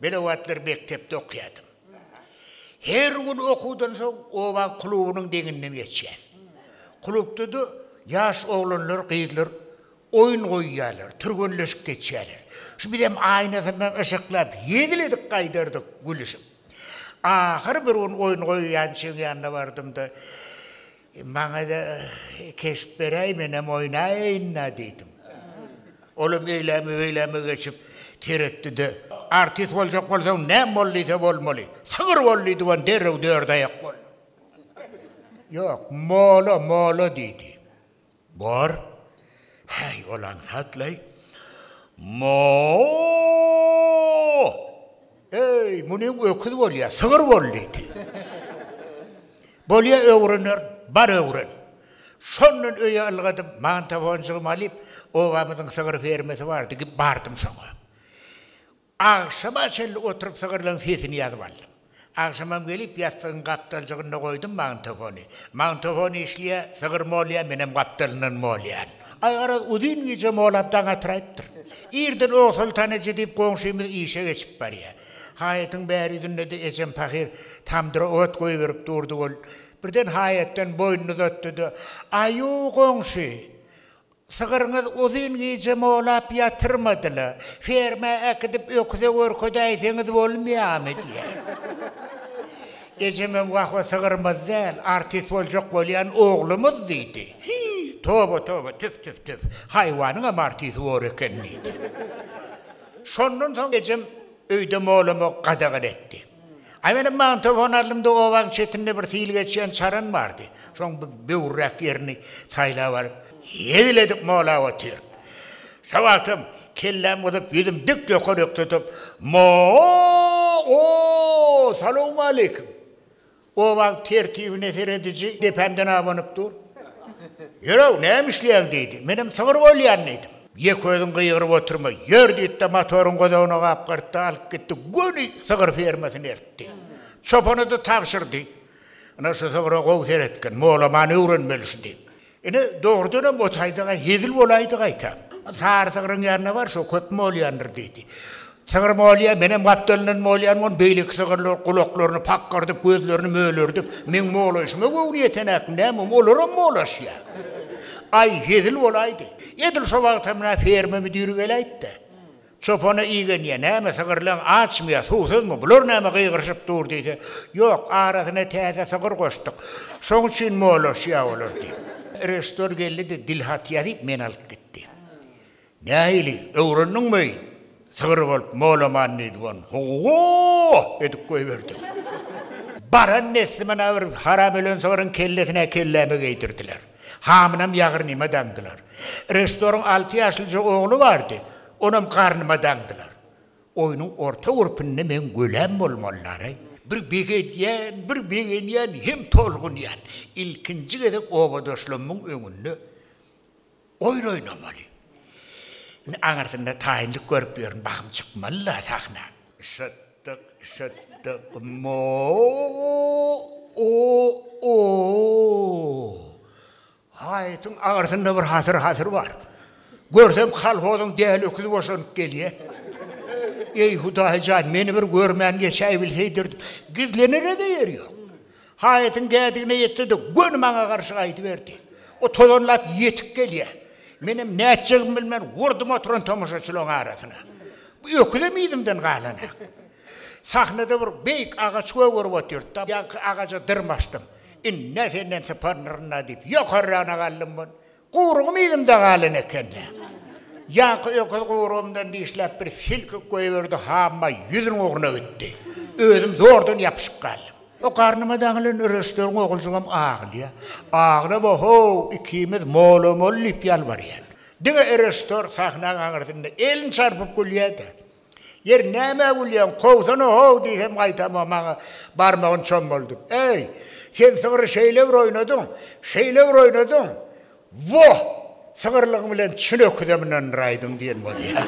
Men o wagtlar mekdepde okaýardym. Her gün okuwdan soň oba klubynyň deňinden geçýän. Klubda-da ýaş oglanlar, gyzlar oýun goýýarlar, türgenleşip geçýärler. Şu bizem aýnasyndan yşyklap, hezil edip gaýdardyk, gülüşip. Ahyry bir gün oýun goýýançyň ýanyna bardym-da. Maňa-da keşp beräý, menem oýnaýyn-a diýdim. Olam eýläme-beýläme geçip seretdi-de, Artist boljak bolsaň, näm bol diýse bolmaly. Sygyr bol diýdi we derrew dördaýak boldy. Ýok, mola, mola diýdi. Bor, häý, ol aňsat-laý. Mo-o-o! Eý, muny öküz bolýa, sygyr bol! diýdi. Bolýa, öwrenerin. Bar öwren. Şondan öýe ylgadym, mantafonjygymy alyp, obamyzyň sygyr fermasy bardy, bardym şoňa. Agşama çenli oturyp sygyrlaň sesini ýazyp aldym. Agşamam gelip ýassygyň gapdaljygynda goýdum magnitofony. Magnitofon işleýä, sygyr molýa, menem gapdalyndan molýan. Aýgaraz uzyn gije molap daň atyraýypdyr. Irden Ogsoltanaje diýip goňşymyz işe geçip barýa. Haýatyň bäri ýüzündede ejem pahyr tamdyra ot goýberip durdy ol birden haýatdan boýnuny uzatdyda Aýu goňşy Sygyrňyz uzyn gije molap ýatyrmady-la. Fermä äkidip öküze görkezäýseňiz bolmaýamy? diýýär. Ejemem wah-o sygyrymyz däl, artist boljak bolýan oglumyz diýdi. Hi, toba, toba, tüf, tüf, tüf, haýwanyňam artisti bor eken diýdi. Şondan soň ejem öýde molamagy gadagan etdi. Äwelem magnitofon aldymda obaň çetinde bir sil geçýän çaran bardy. Şoň bir böwürräk ýerini saýlap alyp, hezil edip mowlap otyrdym. Şo wagtam kelläm gyzyp, ýüzüm dik ýokaryk tutup, Mo-o-o-o-o! Salowmaleýkim! Gowak tertibine serediji depemden abanyp dur. Ýör-ow, näme işleýäň? diýdi. Menem sygyr bolýan diýdim. Ýeközüň gygyryp oturma, ýör diýdi-de, motoryň godagyna gapgyrtdy, alyp gitdi, göni sygyr fermasyna eltdi. Çopana-da tabşyrdy. Ana, şu sygyra gowy seretgin, molaman öwrenmeli şu diýip. Ine, dogrudanam o taýda-a hezil bolaýdy gaýta. Sary sygryň ýanyna bar, şo köp molýandyr, diýdi. Sygyr molýa, menem gapdalyndan molýan gon, beýleki sygyrlar gulaklaryny pakgyrdyp, gözlerini mölerdip, meň molaýşyma göwni ýetenäkim, näme, olaram molaşýa. Aý, hezil bolaýdy. Edil şo wagtam-a ferma müdiri geläýdi-de, Çopana igenýä, näme sygyrlaň açmyýa, suwsuzmy, bular näme gygyryşyp dur diýse, Ýok, arasyna täze sygyr goşduk, şoň üçin molaşýa olar diýip. Reştor geldi-de dil hat ýazyp meni alyp gitdi. Nähili, öwrendiňmi, sygyr bolup molaman diýdi bonu, ho-o-o-o-o edip goýberdim. Baran neslimana bir haram ölen sygyryň kellesine kelläme geýdirdiler. Hamynam ýagyrnyma daňdylar. Reşdoryň alty ýaşlyja ogly bardy, onam garnyma daňdylar. Oýnuň orta gürpünde meň göläm bolmalylaray. Bir begenýän, bir begenýän hem tolgunýan. Ilkinji gezek obadaşlarymyň öňünde oýun oýnamaly. Indi aňyrsynda taýynlyk görüp ýörün, bahym çykmaly-la sahna. Şat. Dyk şyt dyk mo o o Haýytyň aňyrsynda bir hasyr hasyr bar. Görsem kolhozyň däli öküzi boşanyp gelýä. Eý Hudaý jan meni bir görmän geçäýbilseýdir gizlenere-de ýer ýok. Haýatyň gädigine ýetse-de, göni maňa garşy gaýdyberdi. O tozanlap ýetip gelýär. Menem nätjegimi bilmän urdum oturan tomaşaçylaryň arasyna. Bu öküzem yzymdan galanak. Sahnada bir beýik agaç gögerip otyrdy-da, ýaňky agaja dyrmaşdym. Indi-ä senden syparnyryn-a diýip, ýokarragyna galdym. Guýrugym yzymda galan ekeni. Ýaňky öküz guýrugymdan dişläp bir silkik goýberdi, hamma ýüzüniň ugruna gitdi. Özüm zordan ýapyşyp galdym. O garnyma daňylan Röşdüň oguljygam agylýar. Aglama how, ikimiz molam ol diýip ýalbarýar. Diňe Röşder sahnaň aňyrsynda elini çarpyp gülýär-de. Ýeri, nämä gülýäň? Kowsana-how! diýsem, gaýtam-a maňa barmagyny çommaldyp, Äý, sen sygry şeýle bir oýnadyň, şeýle bir oýnadyň, woh, sygyrlygyň bilen çün öküzem ynandyraýdyň diýen bolýar.